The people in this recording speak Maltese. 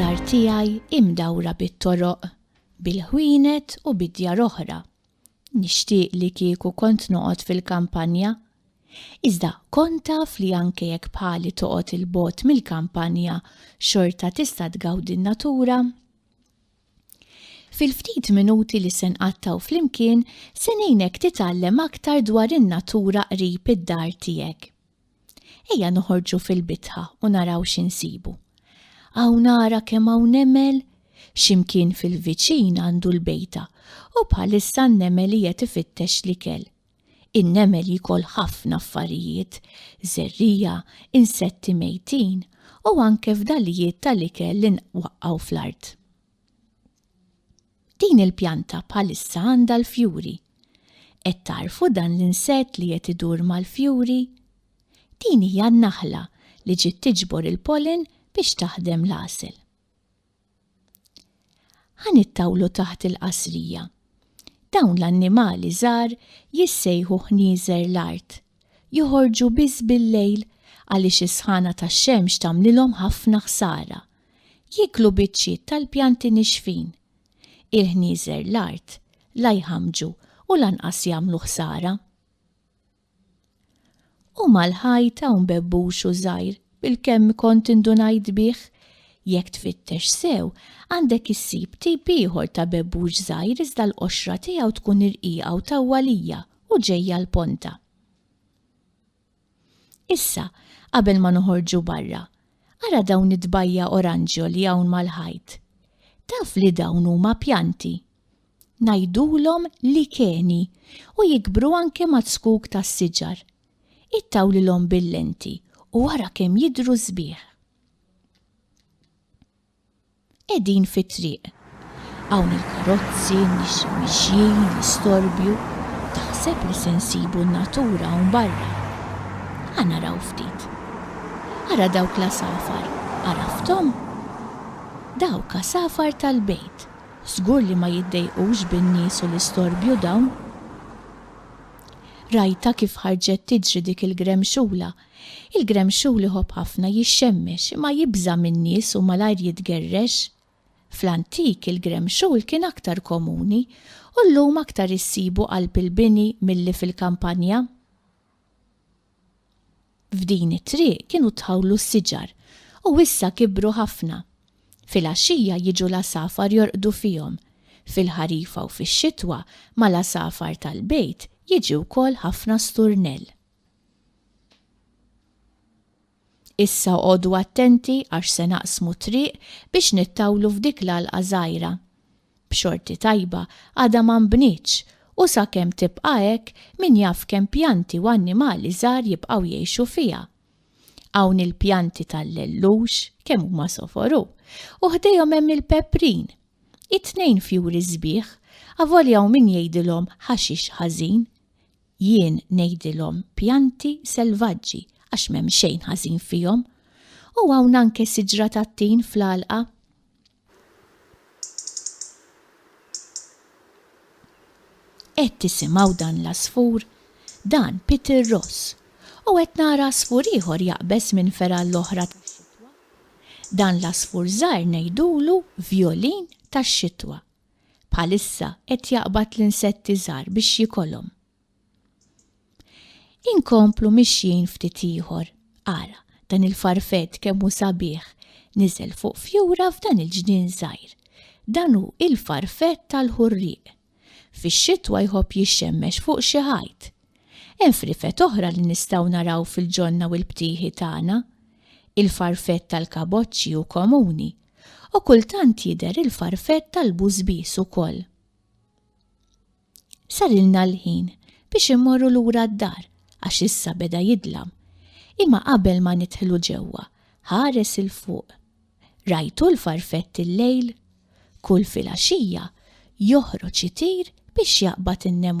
Dar tiegħi hi mdawra bit-toroq, bil-ħwienet u bid-djar oħra. Nixtieq li kieku kont noqgħod fil-kampanja. Iżda kont taf li anke jekk bħali toqgħod 'il bogħod mill-kampanja xorta tista' tgawdi n-natura? Fil-ftit minuti li se nqattgħu flimkien se ngħinek titgħallem aktar dwar in-natura qrib id-dar tiegħek. Ejja noħorġu fil-bitħa u naraw xi nsibu. Hawn ara kemm hawn nemel, x'imkien fil-viċin għandu l-bejta u bħalissa n-nemel qiegħed ifittex l-ikel. In-nemel jikol ħafna affarijiet, żerrija, insetti mejtin u anke fdalijiet tal-ikel li nwaqqgħu fl-art. Din il-pjanta bħalissa għandha l-fjuri. Qed tarfu dan l-insett li qed idur mal-fjuri? Din hija n-naħla li ġiet tiġbor il-pollen biex taħdem l-għasel. Ħanittawlu taħt il-qasrija. Dawn l-annimali żgħar jissejħu ħnieżer l-art. Joħorġu biss bil-lejl għaliex is-sħana tax-xemx tagħmlilhom ħafna ħsara. Jieklu biċċiet tal-pjanti nixfin. Il-ħnieżer l-art la jħammġu u lanqas jagħmlu ħsara. U mal-ħajt hawn bebbuxu żgħir bil-kemm kont indunajt bih. Jekk tfittex sew, għandek issib tip ieħor ta' bebbux żgħir iżda l-qoxra tiegħu tkun irqiqa u tawwalija u ġejja l-ponta. Issa, qabel ma noħorġu barra, ara dawn it-tbajja' oranġjo li hawn mal-ħajt. Taf li dawn huma pjanti? Ngħidulhom likeni u jikbru anke maz-zkuk tas-siġar. Ittawlilhom bil-lenti u ara kemm jidhru sbieħ. qegħdin fit-triq. Hawn il-karozzi, n-nies mixjin, l-istorbju, taħseb li se nsibu n-natura hawn barra. Ħa naraw ftit. Ara dawk l-għasafar, għarafthom? Dawk għasafar tal-bejt, żgur li ma jiddejqux bin-nies u l-istorbju dawn. Rajtha kif ħarġet tiġri dik il-gremxula Il-gremxul iħobb ħafna jixxemmex imma jibża' min-nies u malajr jitgerrex. Fl-antik il-gremxul kien aktar komuni u llum aktar issibu qalb il-bini milli fil-kampanja. F'din it-triq kienu tħawlu s-siġar u issa kibru ħafna. Filgħaxija jiġu l-għasafar jorqdu fihom. Fil-ħarifa u fix-xitwa mal-għasafar tal-bejt jiġi wkoll ħafna sturnell. Issa oqogħdu attenti għax se naqsmu t-triq biex nittawlu f'dik l-għalqa żgħira. B'xorti tajba għadha ma nbnietx u sakemm tibqa' hekk min jaf kemm pjanti u annimali żgħar jibqgħu jgħixu fiha. Hawn il-pjanti tal-lellux, kemm huma soforu, u ħdejhom hemm il-peprin. It-tnejn fjuri sbieħ, avolja hawn min jgħidilhom ħaxix ħażin. Jien ngħidilhom pjanti selvaġġi għax m'hemm xejn ħażin fihom. U hawn anke siġra tat-tin fl-għalqa. Qed tisimgħu dan l-għasfur? Dan Peter Ross. U qed nara għasfur ieħor jaqbeż minn fergħa għall-oħra tax-xitwa. Dan l-għasfur żgħir ngħidulu vjolin tax-xitwa. Bħalissa qed jaqbad l-insetti żgħar biex jikolhom. Inkomplu mixjin ftit ieħor. Ara, dan il-farfett kemm hu sabiħ, niżel fuq fjura f'dan il-ġnien żgħir. Dan hu il-farfett tal-ħurrieq. Fix-xitwa jħobb jixxemmex fuq xi ħajt. Hemm frifet oħra li nistgħu naraw fil-ġonna u l-btieħi tagħna. Il-farfett tal-kaboċċi hu komuni U kultant jidher il-farfett tal-bużbież ukoll. Sarilna l-ħin biex immorru lura d-dar għax issa beda jidlam. Imma qabel ma nidħlu ġewwa, ħares il fuq. Rajtu l-farfett il-lejl? Kull filgħaxija joħroġ itir biex jaqbad in-nemlu.